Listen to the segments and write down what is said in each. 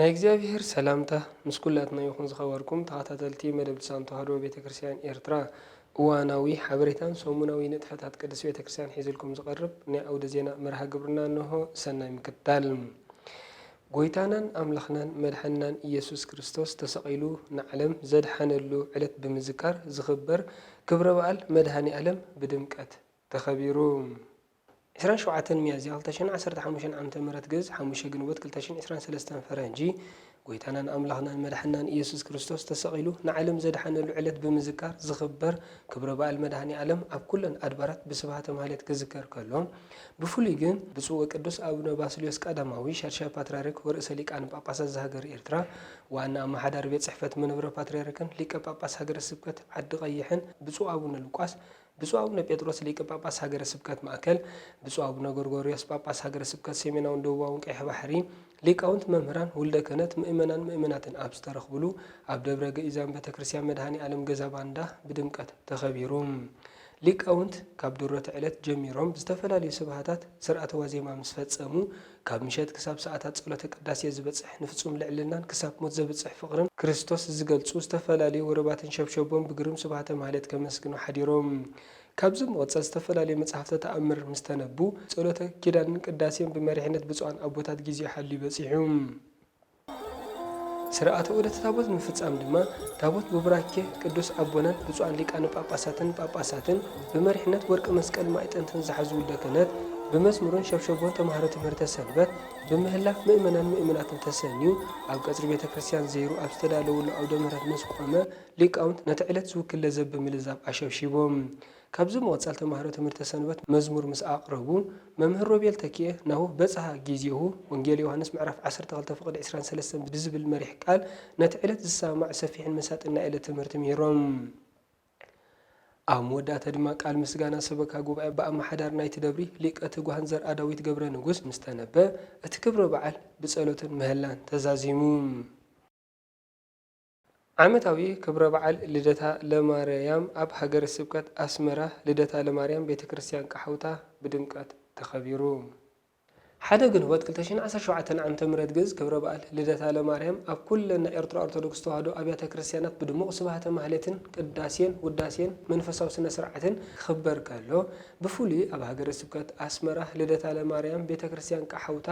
ናይ እግዚኣብሔር ሰላምታ ምስ ኩላትና ይኹን ዝኸበርኩም ተኸታተልቲ መደብ ልሳን ተዋህዶ ቤተ ክርስቲያን ኤርትራ እዋናዊ ሓበሬታን ሰሙናዊ ንጥፈታት ቅድስት ቤተ ክርስቲያን ሒዝልኩም ዝቐርብ ናይ ኣውደ ዜና መርሃ ግብርና እንሆ ሰናይ ምክትታል ጎይታናን ኣምላኽናን መድሓኒናን እየሱስ ክርስቶስ ተሰቒሉ ንዓለም ዘድሓነሉ ዕለት ብምዝካር ዝኽበር ክብረ በዓል መድሃኒኣለም ብድምቀት ተኸቢሩ። ዕስራን ሸውዓተን ሚያዝያ ክልተ ሽሕን ዓሰርተ ሓሙሽተን ዓመተ ምህረት ግእዝ፣ ሓሙሽተ ግንቦት ክልተ ሽሕን ዕስራን ሰለስተን ፈረንጂ፣ ጎይታናን ኣምላኽናን መድሓኒናን እየሱስ ክርስቶስ ተሰቒሉ ንዓለም ዘድሓነሉ ዕለት ብምዝካር ዝኽበር ክብረ በዓል መድሃኒኣለም ኣብ ኩለን ኣድባራት ብስብሃተ ማህሌት ክዝከር ከሎ፣ ብፍሉይ ግን ብፁዕ ወቅዱስ ኣቡነ ባስልዮስ ቀዳማዊ ሻድሻይ ፓትርያርክ ወርእሰ ሊቃነ ጳጳሳት ዘሃገረ ኤርትራ ዋና ኣመሓዳሪ ቤት ጽሕፈት መንበረ ፓትርያርክን ሊቀ ጳጳስ ሃገረ ስብከት ዓዲ ቐይሕን ብፁዕ ኣቡነ ሉቃስ ብፁዕ ኣቡነ ጴጥሮስ ሊቀ ጳጳስ ሃገረ ስብከት ማእከል ብፁዕ ኣቡነ ጎርጎርዮስ ጳጳስ ሃገረ ስብከት ሰሜናውን ደቡባውን ቀይሕ ባሕሪ ሊቃውንት መምህራን ውልደ ክህነት ምእመናን ምእመናትን ኣብ ዝተረኽብሉ ኣብ ደብረ ገኢዛን ቤተክርስቲያን መድኃኔ ዓለም ገዛ ባንዳ ብድምቀት ተኸቢሩ። ሊቃውንት ካብ ድሮተ ዕለት ጀሚሮም ዝተፈላለዩ ስብሃታት ሥርዓተ ዋዜማ ምስ ፈጸሙ ካብ ምሸት ክሳብ ሰዓታት ጸሎተ ቅዳሴ ዝበጽሕ ንፍጹም ልዕልናን ክሳብ ሞት ዘብጽሕ ፍቕርን ክርስቶስ ዝገልጹ ዝተፈላለዩ ወረባትን ሸብሸቦም ብግርም ስብሃተ ማኅሌት ከመስግኑ ሓዲሮም። ካብዚ ብምቕጻል ዝተፈላለዩ መጽሓፍተ ተኣምር ምስ ተነቡ፣ ጸሎተ ኪዳንን ቅዳሴን ብመሪሕነት ብጹዓን ኣቦታት ጊዜኡ ሓልዩ በጺሑ። ሥርዓተ ዑደተ ታቦት ንምፍጻም ድማ ታቦት ብቡራኬ ቅዱስ ኣቦናን ብጹዓን ሊቃነ ጳጳሳትን ጳጳሳትን ብመሪሕነት ወርቂ መስቀል ማእጠንትን ዝሓዙ ውልደ ክህነት ብመዝሙርን ሸብሸቦን ተማሃሮ ትምህርተ ሰንበት ብምህላፍ ምእመናን ምእምናትን ተሰንዩ ኣብ ቀጽሪ ቤተ ክርስቲያን ዘይሩ ኣብ ዝተዳለወሉ ኣውደ ምህረት ምስ ቆመ ሊቃውንት ነቲ ዕለት ዝውክል ለዘብ ምልዛብ ኣሸብሺቦም። ካብዚ ብምቕጻል ተማሃሮ ትምህርተ ሰንበት መዝሙር ምስ ኣቕረቡ፣ መምህር ሮቤል ተኪኤ ናሁ በጽሃ ጊዜሁ፣ ወንጌል ዮሃንስ ምዕራፍ ዓሰርተ ክልተ ፍቕድ ዕስራን ሰለስተን ብዝብል መሪሕ ቃል ነቲ ዕለት ዝሰማማዕ ሰፊሕን መሳጥን ናይ ዕለት ትምህርቲ ምሂሮም። ኣብ መወዳእታ ድማ ቃል ምስጋና ሰበካ ጉባኤ ብኣመሓዳሪ ናይቲ ደብሪ ሊቀ ትጉሃን ዘርኣዳዊት ገብረንጉስ ምስ ተነበ፣ እቲ ክብረ በዓል ብጸሎትን ምህላን ተዛዚሙ። ዓመታዊ ክብረ በዓል ልደታ ለማርያም ኣብ ሃገረ ስብከት ኣስመራ ልደታ ለማርያም ቤተ ክርስትያን ቃሓውታ ብድምቀት ተኸቢሩ። ሓደ ግንቦት ክልተ ሽሕን ዓሰርተ ሸውዓተን ዓመተ ምህረት ግእዝ ክብረ በዓል ልደታ ለማርያም ኣብ ኩለን ናይ ኤርትራ ኦርቶዶክስ ተዋህዶ ኣብያተ ክርስትያናት ብድሙቕ ስብሃተ ማህሌትን ቅዳሴን ውዳሴን መንፈሳዊ ስነ ስርዓትን ክኽበር ከሎ ብፍሉይ ኣብ ሃገረ ስብከት ኣስመራ ልደታ ለማርያም ቤተ ክርስትያን ቃሓውታ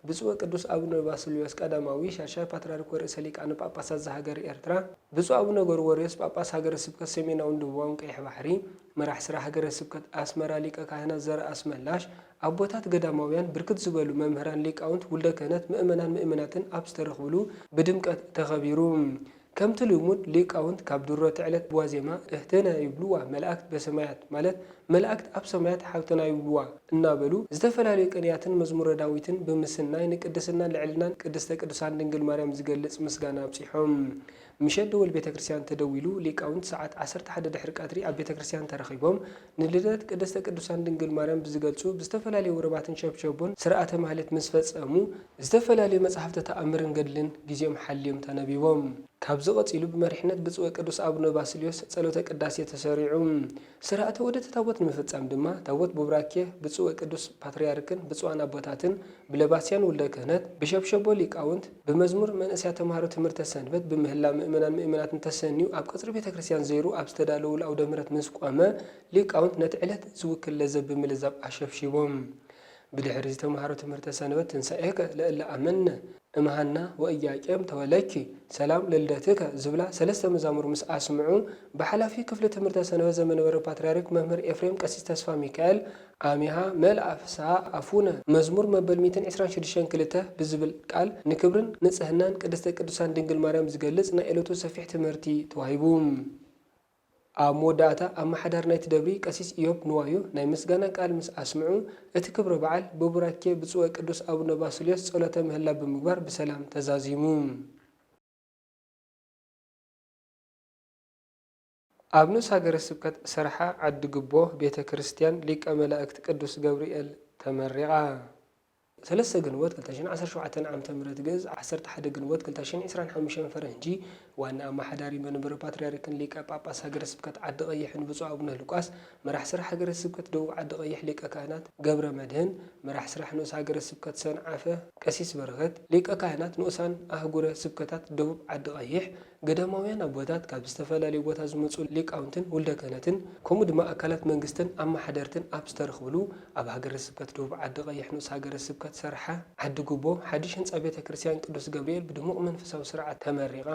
ብፁዕ ወቅዱስ ኣቡነ ባስልዮስ ቀዳማዊ ሻድሻይ ፓትርያርክ ወርእሰ ሊቃነ ጳጳሳት ዘሃገረ ኤርትራ፣ ብፁዕ ኣቡነ ጎርጎርዮስ ጳጳስ ሃገረ ስብከት ሰሜናውን ደቡባውን ቀይሕ ባሕሪ፣ መራሕ ሥራ ሃገረ ስብከት ኣሥመራ ሊቀ ካህናት ዘርኣስመላሽ፣ ኣቦታት ገዳማውያን፣ ብርክት ዝበሉ መምህራን ሊቃውንት፣ ውልደ ክህነት፣ ምእመናን ምእመናትን ኣብ ዝተረኽብሉ ብድምቀት ተኸቢሩ። ከምቲ ልሙድ ሊቃውንት ካብ ድሮቲ ዕለት ብዋዜማ እህቴነ ይብልዋ መላእክት በሰማያት ማለት መላእክት ኣብ ሰማያት ሓብትና ይብልዋ እናበሉ ዝተፈላለዩ ቅንያትን መዝሙረ ዳዊትን ብምስናይ ንቅድስናን ልዕልናን ቅድስተ ቅዱሳን ድንግል ማርያም ዝገልጽ ምስጋና ኣብጺሖም ምሸት ደወል ቤተክርስትያን ተደዊሉ ሊቃውንት ሰዓት ዓሰርተ ሓደ ድሕሪ ቀትሪ ኣብ ቤተክርስትያን ተረኺቦም ንልደት ቅድስተ ቅዱሳን ድንግል ማርያም ብዝገልጹ ብዝተፈላለዩ ውርባትን ሸብሸቦን ሥርዓተ ማኅሌት ምስ ፈጸሙ፣ ዝተፈላለዩ መጻሕፍተ ተኣምርን ገድልን ጊዜኦም ሓልዮም ተነቢቦም። ካብዚ ቀጺሉ ብመሪሕነት ብፁዕ ወቅዱስ ኣቡነ ባስልዮስ ጸሎተ ቅዳሴ ተሠሪዑ። ሥርዓተ ዑደተ ታቦት ንምፍጻም ድማ ታቦት ቡራኬ ብፁዕ ወቅዱስ ፓትርያርክን ብፁዓን ኣቦታትን፣ ብለባስያን ውልደ ክህነት፣ ብሸብሸቦ ሊቃውንት፣ ብመዝሙር መንእሰያት ተማሃሮ ትምህርተ ሰንበት ብምህላ ምእመናን ምእመናትን ተሰንዩ ኣብ ቀጽሪ ቤተ ክርስቲያን ዘይሩ ኣብ ዝተዳለዉሉ ኣውደ ምህረት ምስ ቆመ ሊቃውንት ነቲ ዕለት ዝውክል ለዘብ ብምልዛብ ኣሸብሺቦም ብድሕርዚ ተማሃሮ ትምህርተ ሰንበት ትንሣኤከ ለእለ ኣመነ እምሃና ወኢያቄም ተወለኪ ሰላም ለልደትከ ዝብላ ሰለስተ መዛሙር ምስ ኣስምዑ ብሓላፊ ክፍሊ ትምህርተ ሰንበት ዘመንበረ ፓትርያርክ መምህር ኤፍሬም ቀሲስ ተስፋሚካኤል ኣሜሃ መልኣ ፍስሃ ኣፉነ መዝሙር መበል ሚእትን ዕስራን ሽዱሽተን ክልተ ብዝብል ቃል ንክብርን ንጽህናን ቅድስተ ቅዱሳን ድንግል ማርያም ዝገልጽ ናይ እለቱ ሰፊሕ ትምህርቲ ተዋሂቡ። ኣብ መወዳእታ ኣማሓዳሪ ናይቲ ደብሪ ቀሲስ እዮብ ንዋዩ ናይ ምስጋና ቃል ምስ ኣስምዑ እቲ ክብረ በዓል ብቡራኬ ብጹእ ወቅዱስ ኣቡነ ባስልዮስ ጸሎተ ምህላ ብምግባር ብሰላም ተዛዚሙ። ኣብ ንኡስ ሃገረ ስብከት ሰርሓ ዓዲ ግቦ ቤተ ክርስቲያን ሊቀ መላእክት ቅዱስ ገብርኤል ተመሪቓ። ሰለስተ ግንቦት ክልተ ሽሕን ዓሰርተ ሸውዓተን ዓመተ ምህረት ግእዝ፣ ዓሰርተ ሓደ ግንቦት ክልተ ሽሕን ዕስራን ሓሙሽተን ፈረንጂ፣ ዋና ኣማሓዳሪ መንበረ ፓትርያርክን ሊቀ ጳጳስ ሃገረ ስብከት ዓዲ ቐይሕን ብፁዕ ኣቡነ ሉቃስ፣ መራሕ ስራሕ ሃገረ ስብከት ደቡብ ዓዲ ቐይሕ ሊቀ ካህናት ገብረ መድኅን፣ መራሕ ስራሕ ንኡስ ሃገረ ስብከት ሰንዓፈ ቀሲስ በረኸት፣ ሊቀ ካህናት ንኡሳን ኣህጉረ ስብከታት ደቡብ ዓዲ ቐይሕ፣ ገዳማውያን ኣቦታት፣ ካብ ዝተፈላለዩ ቦታ ዝመጹ ሊቃውንትን ውልደ ክህነትን ከምኡ ድማ ኣካላት መንግስትን ኣማሓደርትን ኣብ ዝተረኽብሉ ኣብ ሃገረ ስብከት ደቡብ ዓዲ ቐይሕ ንኡስ ሃገረ ስብከት ሰርሓ ዓዲ ጉቦ ሓድሽ ህንጻ ቤተ ክርስቲያን ቅዱስ ገብርኤል ብድሙቕ መንፈሳዊ ስርዓት ተመሪቓ።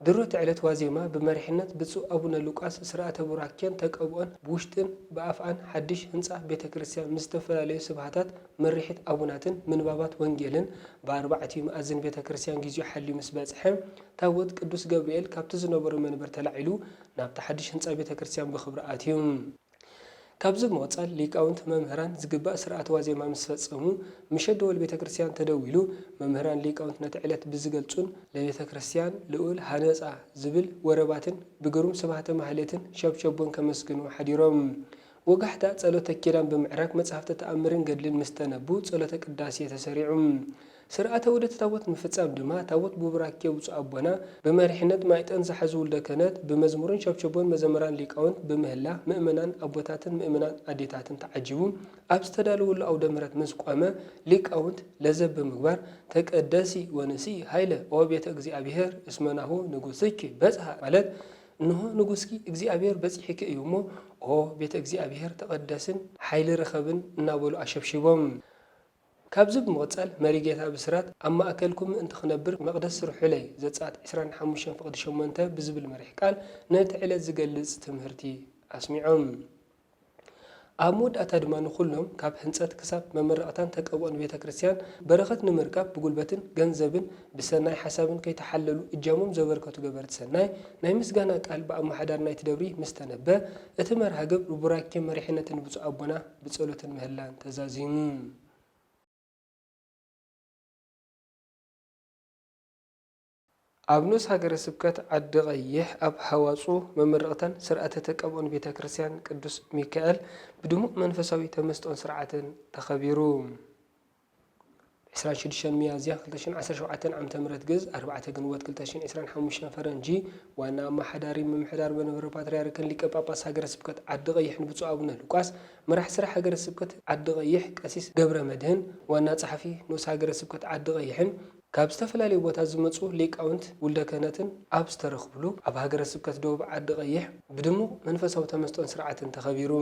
ድሮ'ቲ ዕለት ዋዜማ ብመሪሕነት ብፁዕ ኣቡነ ሉቃስ ስርዓተ ቡራኬን ተቀብኦን ብውሽጥን ብኣፍኣን ሓድሽ ህንጻ ቤተ ክርስቲያን ምስ ዝተፈላለዩ ስብሃታት ምርሒት ኣቡናትን ምንባባት ወንጌልን ብኣርባዕቲኡ መኣዝን ቤተ ክርስቲያን ጊዜኡ ሓልዩ ምስ በጽሐ፣ ታቦት ቅዱስ ገብርኤል ካብቲ ዝነበሮ መንበር ተላዒሉ ናብቲ ሓድሽ ህንጻ ቤተ ክርስቲያን ብኽብሪ ኣትዩ። ካብዚ ብምቕጻል ሊቃውንት መምህራን ዝግባእ ሥርዓተ ዋዜማ ምስ ፈጸሙ፣ ምሸት ደወል ቤተ ክርስቲያን ተደዊሉ፣ መምህራን ሊቃውንት ነቲ ዕለት ብዝገልጹን፣ ለቤተ ክርስቲያን ልዑል ሃነጻ ዝብል ወረባትን ብግሩም ስብሐተ ማኅሌትን ሸብሸቦን ከመስግኑ ሓዲሮም ወጋሕታ፣ ጸሎተ ኪዳን ብምዕራግ መጻሕፍተ ተኣምርን ገድልን ምስ ተነቡ ጸሎተ ቅዳሴ ተሰሪዑ። ሥርዓተ ዑደተ ታቦት ንምፍጻም ድማ ታቦት ብቡራኬ ብፁዕ ኣቦና ብመሪሕነት ማይጠንት ዝሓዙ ውልደ ክህነት ብመዝሙርን ሸብሸቦን መዘምራን ሊቃውንት ብምህላ ምእመናን ኣቦታትን ምእመናት ኣዴታትን ተዓጂቡ ኣብ ዝተዳለወሉ ኣውደ ምሕረት ምስ ቆመ ሊቃውንት ለዘብ ብምግባር ተቀደሲ ወንስኢ ኃይለ ኦ ቤተ እግዚኣብሔር እስመ ናሁ ንጉሥኪ በጽሐ ማለት እንሆ ንጉስኪ እግዚኣብሄር በጺሒኪ እዩ እሞ፣ ኦ ቤተ እግዚኣብሄር ተቐደስን ሓይሊ ርኸብን እናበሉ ኣሸብሺቦም። ካብዚ ብምቕጻል መሪጌታ ብስራት ኣብ ማእከልኩም ምእንቲ ክነብር መቕደስ ስርሑለይ ዘጸኣት ዕስራን ሓሙሽተን ፍቕዲ ሸሞንተ ብዝብል መሪሕ ቃል ነቲ ዕለት ዝገልጽ ትምህርቲ ኣስሚዖም። ኣብ መወዳእታ ድማ ንኹሎም ካብ ሕንጸት ክሳብ መመረቕታን ተቀብኦን ቤተ ክርስቲያን በረኸት ንምርካብ ብጉልበትን ገንዘብን ብሰናይ ሓሳብን ከይተሓለሉ እጃሞም ዘበርከቱ ገበርቲ ሰናይ ናይ ምስጋና ቃል ብኣመሓዳሪ ናይቲ ደብሪ ምስ ተነበ እቲ መርሃ ግብር ቡራኬ መሪሕነትን ብፁዕ ኣቦና ብጸሎትን ምህላን ተዛዚሙ። ኣብ ንኡስ ሃገረ ስብከት ዓዲ ቐይሕ ኣብ ሃዋጹ መመረቕታን ስርዓተ ተቀብኦን ቤተ ክርስቲያን ቅዱስ ሚካኤል ብድሙቕ መንፈሳዊ ተመስጦን ስርዓትን ተኸቢሩ። ብ ዕስራን ሽዱሽተን ሚያዝያ ክልተ ሽሕን ዓሰርተ ሸውዓተን ዓመተ ምህረት ግእዝ፣ ኣርባዕተ ግንቦት ክልተ ሽሕን ዕስራን ሓሙሽተን ፈረንጂ፣ ዋና ኣመሓዳሪ ምምሕዳር መንበረ ፓትርያርክን ሊቀ ጳጳስ ሃገረ ስብከት ዓዲ ቐይሕን ብፁዕ ኣቡነ ሉቃስ፣ መራሒ ሥራሕ ሃገረ ስብከት ዓዲ ቐይሕ ቀሲስ ገብረመድኅን፣ ዋና ጸሓፊ ንኡስ ሃገረ ስብከት ዓዲ ቐይሕን፣ ካብ ዝተፈላለዩ ቦታ ዝመጹ ሊቃውንት ውልደ ክህነትን ኣብ ዝተረኽብሉ ኣብ ሃገረ ስብከት ደቡብ ዓዲ ቐይሕ ብድሙቕ መንፈሳዊ ተመስጦን ስርዓትን ተኸቢሩ።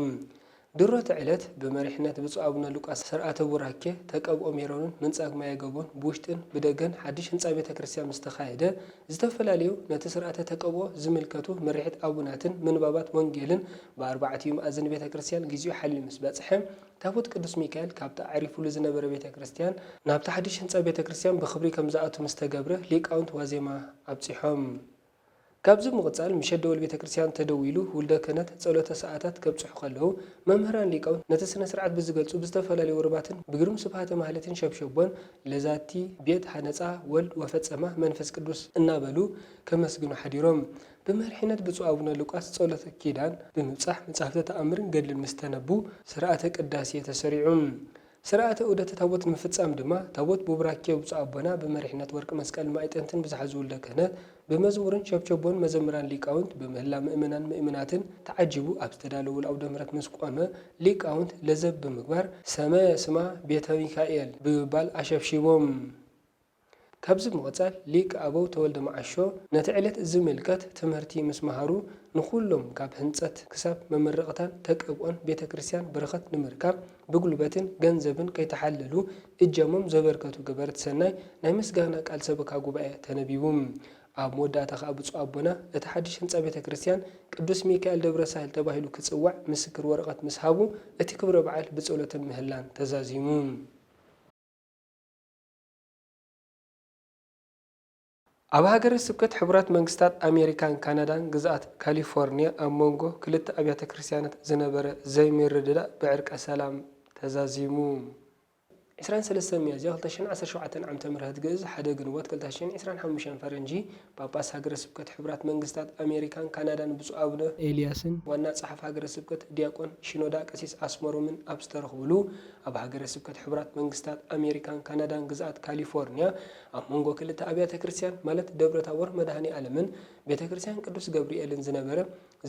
ድሮ'ቲ ዕለት ብመሪሕነት ብፁዕ ኣቡነ ሉቃስ ሰርዓተ ቡራኬ፣ ተቀብኦ ሜሮንን ምንጻግ ማየ ገቦን ብውሽጥን ብደገን ሓድሽ ህንጻ ቤተ ክርስቲያን ምስ ተኻየደ ዝተፈላለዩ ነቲ ስርዓተ ተቀብኦ ዝምልከቱ ምርሒት ኣቡናትን ምንባባት ወንጌልን ብኣርባዕቲኡ መኣዝን ቤተ ክርስቲያን ግዚኡ ሓልዩ ምስ በጽሐ ታቦት ቅዱስ ሚካኤል ካብቲ ኣዕሪፉሉ ዝነበረ ቤተ ክርስቲያን ናብቲ ሓድሽ ህንጻ ቤተ ክርስቲያን ብኽብሪ ከም ዝኣቱ ምስ ተገብረ ሊቃውንት ዋዜማ ኣብጺሖም። ካብዚ ብምቕጻል ምሸት ደወል ቤተ ክርስቲያን ተደዊሉ ውልደ ክህነት ጸሎተ ሰዓታት ከብጽሑ ከለዉ መምህራን ሊቃውንት ነቲ ስነ ስርዓት ብዝገልጹ ብዝተፈላለዩ ወረባትን ብግሩም ስብሃተ ማህሌትን ሸብሸቦን ለዛቲ ቤት ሀነጻ ወልድ ወፈጸማ መንፈስ ቅዱስ እናበሉ ከመስግኑ ሓዲሮም ብመሪሕነት ብፁዕ ኣቡነ ሉቃስ ጸሎተ ኪዳን ብምብጻሕ መጻሕፍተ ተኣምርን ገድልን ምስ ተነቡ ሥርዓተ ቅዳሴ ተሠሪዑ። ሥርዓተ ዑደተ ታቦት ንምፍጻም ድማ ታቦት ቡብራኬ ብፁዕ ኣቦና ብመሪሕነት ወርቂ መስቀልን ማዕጠንትን ብዝሓዙ ውልደ ክህነት ብመዝሙርን ሸብሸቦን መዘምራን ሊቃውንት ብምህላ ምእመናን ምእምናትን ተዓጂቡ ኣብ ዝተዳለወሉ ኣውደ ምሕረት ምስ ቆመ ሊቃውንት ለዘብ ብምግባር ሰመ ስማ ቤተ ሚካኤል ብምባል ኣሸብሺቦም። ካብዚ ብምቕጻል ሊቅ ኣበው ተወልደ መዓሾ ነቲ ዕለት ዝምልከት ትምህርቲ ምስ መሃሩ ንኹሎም ካብ ህንጸት ክሳብ መመረቕታን ተቀብኦን ቤተ ክርስቲያን በረኸት ንምርካብ ብጉልበትን ገንዘብን ከይተሓለሉ እጃሞም ዘበርከቱ ገበርቲ ሰናይ ናይ ምስጋና ቃል ሰበካ ጉባኤ ተነቢቡ ኣብ መወዳእታ ከኣ ብፁዕ ኣቦና እቲ ሓድሽ ህንጻ ቤተ ክርስቲያን ቅዱስ ሚካኤል ደብረ ሳህል ተባሂሉ ክጽዋዕ ምስክር ወረቐት ምስ ሃቡ እቲ ክብረ በዓል ብጸሎትን ምህላን ተዛዚሙ። ኣብ ሃገረ ስብከት ሕቡራት መንግስታት ኣሜሪካን ካናዳን ግዝኣት ካሊፎርንያ ኣብ መንጎ ክልተ ኣብያተ ክርስትያናት ዝነበረ ዘይምርድዳእ ብዕርቀ ሰላም ተዛዚሙ። ዕስራን ሰለስተን ሚያዝያ ክልተ ሽሕን ዓሰርተ ሸውዓተን ዓመተ ምህረት ግእዝ ሓደ ግንቦት ክልተ ሽሕን ዕስራን ሓሙሽተን ፈረንጂ ጳጳስ ሃገረ ስብከት ሕቡራት መንግስታት ኣሜሪካን ካናዳን ብፁዕ ኣቡነ ኤልያስን ዋና ጸሓፊ ሃገረ ስብከት ዲያቆን ሺኖዳ ቀሲስ ኣስመሮምን ኣብ ዝተረኽቡሉ ኣብ ሃገረ ስብከት ሕቡራት መንግስታት ኣሜሪካን ካናዳን ግዝኣት ካሊፎርንያ ኣብ መንጎ ክልተ ኣብያተ ክርስትያን ማለት ደብረ ታቦር መድኃኔ ዓለምን ቤተ ክርስትያን ቅዱስ ገብርኤልን ዝነበረ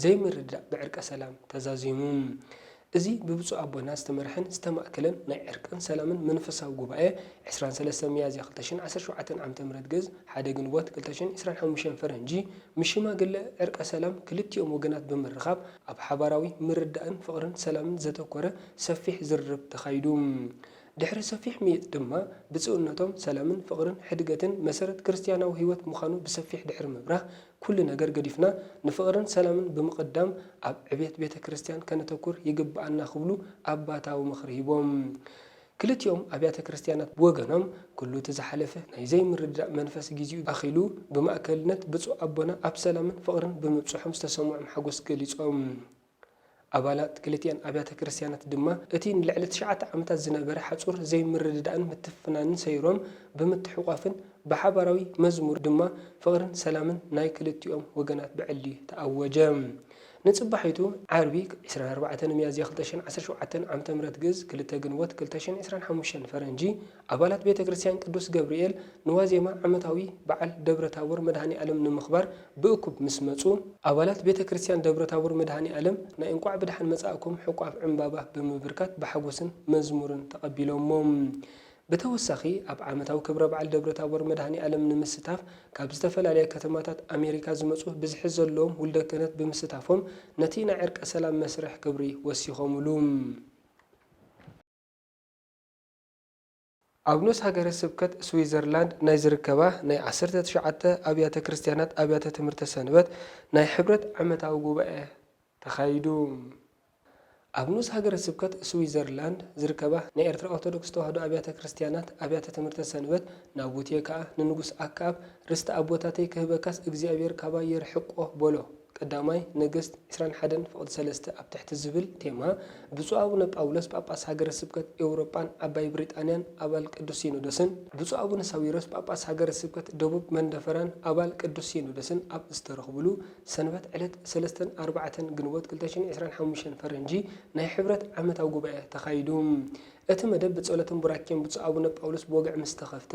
ዘይምርድዳእ ብዕርቀ ሰላም ተዛዚሙ። እዚ ብብፁዕ ኣቦና ዝተመርሐን ዝተማእከለን ናይ ዕርቅን ሰላምን መንፈሳዊ ጉባኤ ዕስራን ሰለስተን ሚያዝያ ክልተ ሽሕን ዓሰርተ ሸውዓተን ዓመተ ምህረት ግእዝ ሓደ ግንቦት ክልተ ሽሕን ዕስራን ሓሙሽተን ፈረንጂ ምስ ሽማግለ ዕርቀ ሰላም ክልቲኦም ወገናት ብምርኻብ ኣብ ሓባራዊ ምርዳእን ፍቕርን ሰላምን ዘተኮረ ሰፊሕ ዝርርብ ተኻይዱ። ድሕሪ ሰፊሕ ምይይጥ ድማ ብፁዕነቶም ሰላምን ፍቕርን ሕድገትን መሰረት ክርስትያናዊ ሕይወት ምዃኑ ብሰፊሕ ድሕሪ ምብራህ ኩሉ ነገር ገዲፍና ንፍቕርን ሰላምን ብምቕዳም ኣብ ዕብየት ቤተ ክርስቲያን ከነተኩር ይግብኣና ክብሉ ኣባታዊ ምኽሪ ሂቦም። ክልቲኦም ኣብያተ ክርስቲያናት ብወገኖም ኩሉ እቲ ዝሓለፈ ናይ ዘይምርድዳእ መንፈስ ጊዚኡ ኣኺሉ ብማእከልነት ብፁዕ ኣቦና ኣብ ሰላምን ፍቕርን ብምብፅሖም ዝተሰምዖም ሓጎስ ገሊፆም። ኣባላት ክልቲኣን ኣብያተ ክርስቲያናት ድማ እቲ ንልዕሊ ትሽዓተ ዓመታት ዝነበረ ሓጹር ዘይምርድዳእን ምትፍናንን ሰይሮም ብምትሕቋፍን ብሓባራዊ መዝሙር ድማ ፍቕርን ሰላምን ናይ ክልቲኦም ወገናት ብዕሊ ተኣወጀ። ንጽባሒቱ ዓርቢ ዕስራን ኣርባዕተን ሚያዝያ ክልተ ሽሕን ዓሰርተ ሸውዓተን ዓመተ ምህረት ግእዝ ክልተ ግንቦት ክልተ ሽሕን ዕስራን ሓሙሽተን ፈረንጂ ኣባላት ቤተ ክርስቲያን ቅዱስ ገብርኤል ንዋዜማ ዓመታዊ በዓል ደብረ ታቦር መድኃኔ ዓለም ንምኽባር ብእኩብ ምስ መጹ፣ ኣባላት ቤተ ክርስቲያን ደብረ ታቦር መድኃኔ ዓለም ናይ እንቋዕ ብደሓን መጻእኩም ሕቋፍ ዕምባባ ብምብርካት ብሓጎስን መዝሙርን ተቐቢሎሞም። ብተወሳኺ ኣብ ዓመታዊ ክብረ በዓል ደብረ ታቦር መድኃኔ ዓለም ንምስታፍ ካብ ዝተፈላለያ ከተማታት ኣሜሪካ ዝመጹ ብዝሒ ዘለዎም ውልደ ክህነት ብምስታፎም ነቲ ናይ ዕርቀ ሰላም መስርሕ ክብሪ ወሲኾምሉ። ኣብ ኑስ ሃገረ ስብከት ስዊዘርላንድ ናይ ዝርከባ ናይ ዓሰርተ ትሽዓተ ኣብያተ ክርስትያናት ኣብያተ ትምህርተ ሰንበት ናይ ሕብረት ዓመታዊ ጉባኤ ተኻይዱ። ኣብ ኑስ ሃገረ ስብከት ስዊዘርላንድ ዝርከባ ናይ ኤርትራ ኦርቶዶክስ ተዋህዶ ኣብያተ ክርስትያናት ኣብያተ ትምህርተ ሰንበት ናቡቴ ከኣ ንንጉስ ኣክኣብ ርስቲ ኣቦታተይ ክህበካስ እግዚኣብሔር ካባይ የርሕቆ በሎ። ቀዳማይ ነገስት ዕስራን ሓደን ፍቕዲ ሰለስተ ኣብ ትሕቲ ዝብል ቴማ፣ ብፁዕ ኣቡነ ጳውሎስ ጳጳስ ሃገረ ስብከት ኤውሮጳን ዓባይ ብሪጣንያን ኣባል ቅዱስ ሲኖዶስን፣ ብፁዕ ኣቡነ ሳዊሮስ ጳጳስ ሃገረ ስብከት ደቡብ መንደፈራን ኣባል ቅዱስ ሲኖዶስን ኣብ ዝተረኽብሉ፣ ሰንበት ዕለት ሰለስተን ኣርባዕተን ግንቦት ክልተ ሽሕን ዕስራን ሓሙሽተን ፈረንጂ ናይ ሕብረት ዓመታዊ ጉባኤ ተኻይዱ። እቲ መደብ ብጸሎትን ቡራኬን ብፁዕ ኣቡነ ጳውሎስ ብወግዒ ምስ ተኸፍተ፣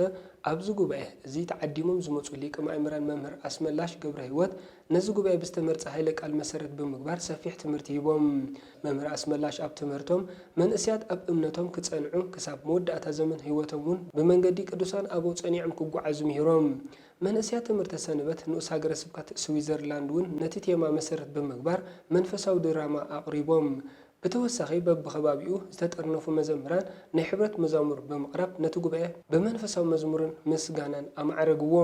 ኣብዚ ጉባኤ እዚ ተዓዲሞም ዝመጹ ሊቀ ማእምራን መምህር ኣስመላሽ ገብረሕይወት፣ ነዚ ጉባኤ ብዝተመርጸ ኃይለ ቃል መሠረት ብምግባር ሰፊሕ ትምህርቲ ሂቦም። መምህር ኣስመላሽ ኣብ ትምህርቶም፣ መንእሰያት ኣብ እምነቶም ክጸንዑ፣ ክሳብ መወዳእታ ዘመን ሕይወቶም እውን ብመንገዲ ቅዱሳን ኣበው ጸኒዖም ክጐዓዙ ምሂሮም። መንእሰያት ትምህርተ ሰንበት ንኡስ ሃገረ ስብከት ስዊዘርላንድ እውን ነቲ ቴማ መሠረት ብምግባር መንፈሳዊ ድራማ ኣቕሪቦም። ብተወሳኺ በብኸባቢኡ ዝተጠርነፉ መዘምራን ናይ ሕብረት መዛሙር ብምቕራብ ነቲ ጉባኤ ብመንፈሳዊ መዝሙርን ምስጋናን ኣማዕረግዎ።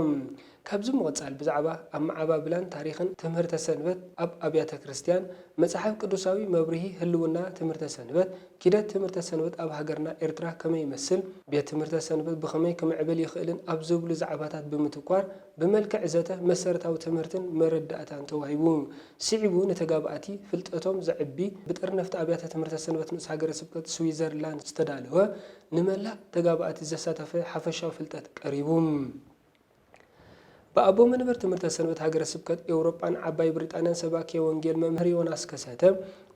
ካብዚ ምቕጻል ብዛዕባ ኣመዓባብላን ታሪኽን ትምህርተ ሰንበት ኣብ ኣብያተ ክርስትያን፣ መጽሓፍ ቅዱሳዊ መብርሂ ህልውና ትምህርተ ሰንበት፣ ኪደት ትምህርተ ሰንበት ኣብ ሃገርና ኤርትራ ከመይ ይመስል፣ ቤት ትምህርተ ሰንበት ብኸመይ ክምዕብል ይኽእልን ኣብ ዝብሉ ዛዕባታት ብምትኳር ብመልክዕ ዘተ መሰረታዊ ትምህርትን መረዳእታን ተዋሂቡ። ስዒቡ ንተጋባእቲ ፍልጠቶም ዘዕቢ ብጠርነፍቲ ኣብያተ ትምህርተ ሰንበት ንኡስ ሃገረ ስብከት ስዊዘርላንድ ዝተዳለወ ንመላእ ተጋባእቲ ዘሳተፈ ሓፈሻዊ ፍልጠት ቀሪቡ። ብኣቦ መንበር ትምህርተ ሰንበት ሃገረ ስብከት ኤውሮጳን ዓባይ ብሪጣንያን ሰባኬ ወንጌል መምህር ዮናስ ከሰተ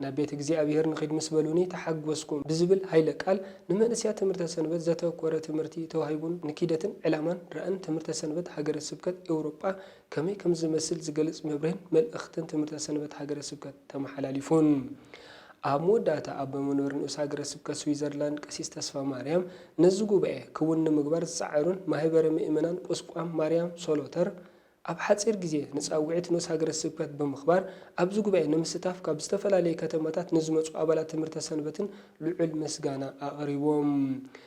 ናብ ቤት እግዚኣብሔር ንኺድ ምስ በሉኒ ተሓጐስኩ ብዝብል ኃይለ ቃል ንመንእስያት ትምህርተ ሰንበት ዘተኰረ ትምህርቲ ተዋሂቡን ንኪደትን ዕላማን ራእን ትምህርተ ሰንበት ሃገረ ስብከት ኤውሮጳ ከመይ ከም ዝመስል ዝገልጽ መብርህን መልእኽትን ትምህርተ ሰንበት ሃገረ ስብከት ተመሓላሊፉን። ኣብ መወዳእታ ኣቦ መንበር ንኡስ ሃገረ ስብከት ስዊዘርላንድ ቀሲስ ተስፋማርያም ነዚ ጉባኤ ክውን ንምግባር ዝጸዓሩን ማህበረ ምእመናን ቁስቋም ማርያም ሶሎተር ኣብ ሓጺር ግዜ ንጻውዒት ንኡስ ሃገረ ስብከት ብምኽባር ኣብዚ ጉባኤ ንምስታፍ ካብ ዝተፈላለየ ከተማታት ንዝመጹ ኣባላት ትምህርተ ሰንበትን ልዑል ምስጋና ኣቕሪቦም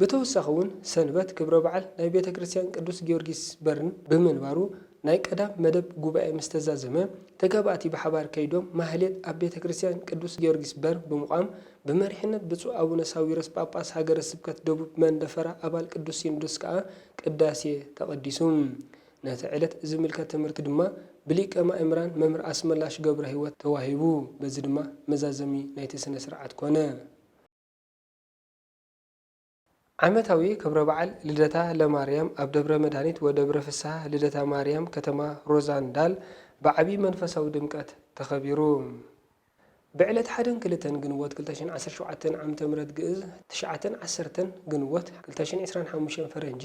ብተወሳኺ እውን ሰንበት ክብረ በዓል ናይ ቤተ ክርስቲያን ቅዱስ ጊዮርጊስ በርን ብምንባሩ ናይ ቀዳም መደብ ጉባኤ ምስ ተዛዘመ ተጋባእቲ ብሓባር ከይዶም ማህሌት ኣብ ቤተ ክርስቲያን ቅዱስ ጊዮርጊስ በር ብምቛም ብመሪሕነት ብፁዕ ኣቡነ ሳዊሮስ ጳጳስ ሃገረ ስብከት ደቡብ መንደፈራ ኣባል ቅዱስ ሲኖዶስ ከኣ ቅዳሴ ተቐዲሱ ነቲ ዕለት ዝምልከት ትምህርቲ ድማ ብሊቀ ማእምራን መምህር ኣስመላሽ ገብረሕይወት ተዋሂቡ በዚ ድማ መዛዘሚ ናይቲ ስነ ስርዓት ኮነ። ዓመታዊ ክብረ በዓል ልደታ ለማርያም ኣብ ደብረ መድሃኒት ወደብረ ፍስሃ ልደታ ማርያም ከተማ ሮዛንዳል ብዓብዪ መንፈሳዊ ድምቀት ተኸቢሩ። ብዕለት ሓደን ክልተን ግንቦት ክልተ ሽሕን ዓሰርተ ሸውዓተን ዓመተ ምህረት ግእዝ፣ ትሽዓተን ዓሰርተን ግንቦት ክልተ ሽሕን ዕስራን ሓሙሽተን ፈረንጂ፣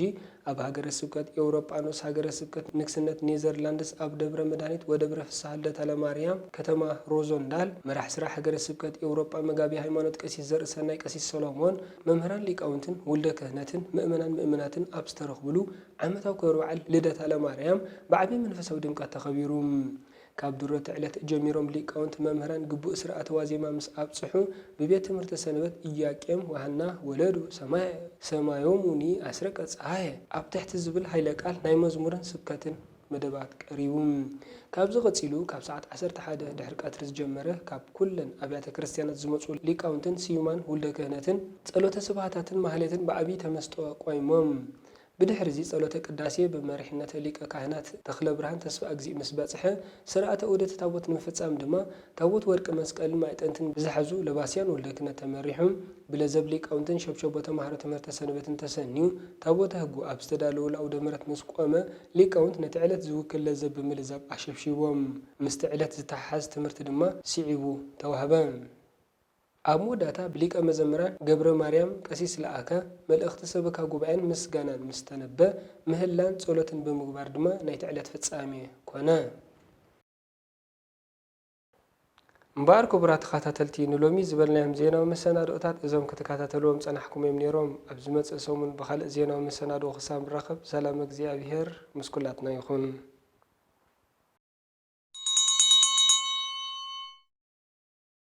ኣብ ሃገረ ስብከት ኤውሮጳኖስ ሃገረ ስብከት ንግስነት ኔዘርላንድስ ኣብ ደብረ መድሃኒት ወደብረ ፍስሃ ልደታ ለማርያም ከተማ ሮዞንዳል መራሕ ስራሕ ሃገረ ስብከት ኤውሮጳ መጋቤ ሃይማኖት ቀሲስ ዘርእሰናይ ቀሲስ ሰሎሞን መምህራን ሊቃውንትን ውልደ ክህነትን ምእመናን ምእምናትን ኣብ ዝተረኽብሉ ዓመታዊ ክብረ በዓል ልደታ ለማርያም ብዓቢይ መንፈሳዊ ድምቀት ተኸቢሩ ካብ ድሮ'ቲ ዕለት ጀሚሮም ሊቃውንቲ መምህራን ግቡእ ሥርዓተ ዋዜማ ምስ ኣብጽሑ፣ ብቤት ትምህርተ ሰንበት ኢያቄም ወሃና ወለዱ ሰማየ፣ ሰማዮሙኒ ኣስረቀ ጸሃየ ኣብ ትሕቲ ዝብል ኃይለ ቃል ናይ መዝሙርን ስብከትን መደባት ቀሪቡ። ካብዚ ቀጺሉ ካብ ሰዓት ዓሰርተ ሓደ ድሕሪ ቀትሪ ዝጀመረ ካብ ኩለን ኣብያተ ክርስቲያናት ዝመጹ ሊቃውንትን ስዩማን ውልደ ክህነትን ጸሎተ ስብሃታትን ማኅሌትን ብዓቢይ ተመስጦ ቆይሞም ብድሕሪ'ዚ ጸሎተ ቅዳሴ ብመሪሕነት ሊቀ ካህናት ተኽለብርሃን ተስፋእግዚእ ምስ በጽሐ፣ ሥርዓተ ዑደት ታቦት ንምፍጻም ድማ፣ ታቦት ወርቂ መስቀልን ማዕጠንትን ብዝሓዙ ለባስያን ወልደ ክህነት ተመሪሑ፣ ብለዘብ ሊቃውንትን ሸብሸቦ ተማሃሮ ትምህርተ ሰንበትን ተሰንዩ፣ ታቦተ ሕጉ ኣብ ዝተዳለወሉ ኣውደ ምሕረት ምስ ቆመ፣ ሊቃውንት ነቲ ዕለት ዝውክል ለዘብ ብምልዛብ ኣሸብሺቦም። ምስቲ ዕለት ዝተሓሓዝ ትምህርቲ ድማ ስዒቡ ተዋህበ። ኣብ መወዳእታ ብሊቀ መዘምራን ገብረማርያም ቀሲስ ለኣከ መልእኽቲ ሰበካ ጉባኤን ምስጋናን ምስ ተነበ፣ ምህላን ጸሎትን ብምግባር ድማ ናይቲ ዕለት ፍጻሜ ኮነ። እምበኣር ክቡራት ተኸታተልቲ ንሎሚ ዝበልናዮም ዜናዊ መሰናድኦታት እዞም ክትከታተልዎም ዝጸናሕኩም እዮም ኔሮም። ኣብ ዝመጽእ ሰሙን ብኻልእ ዜናዊ መሰናድኦ ክሳብ ንራኸብ ሰላም እግዚኣብሄር ምስ ኩላትና ይኹን።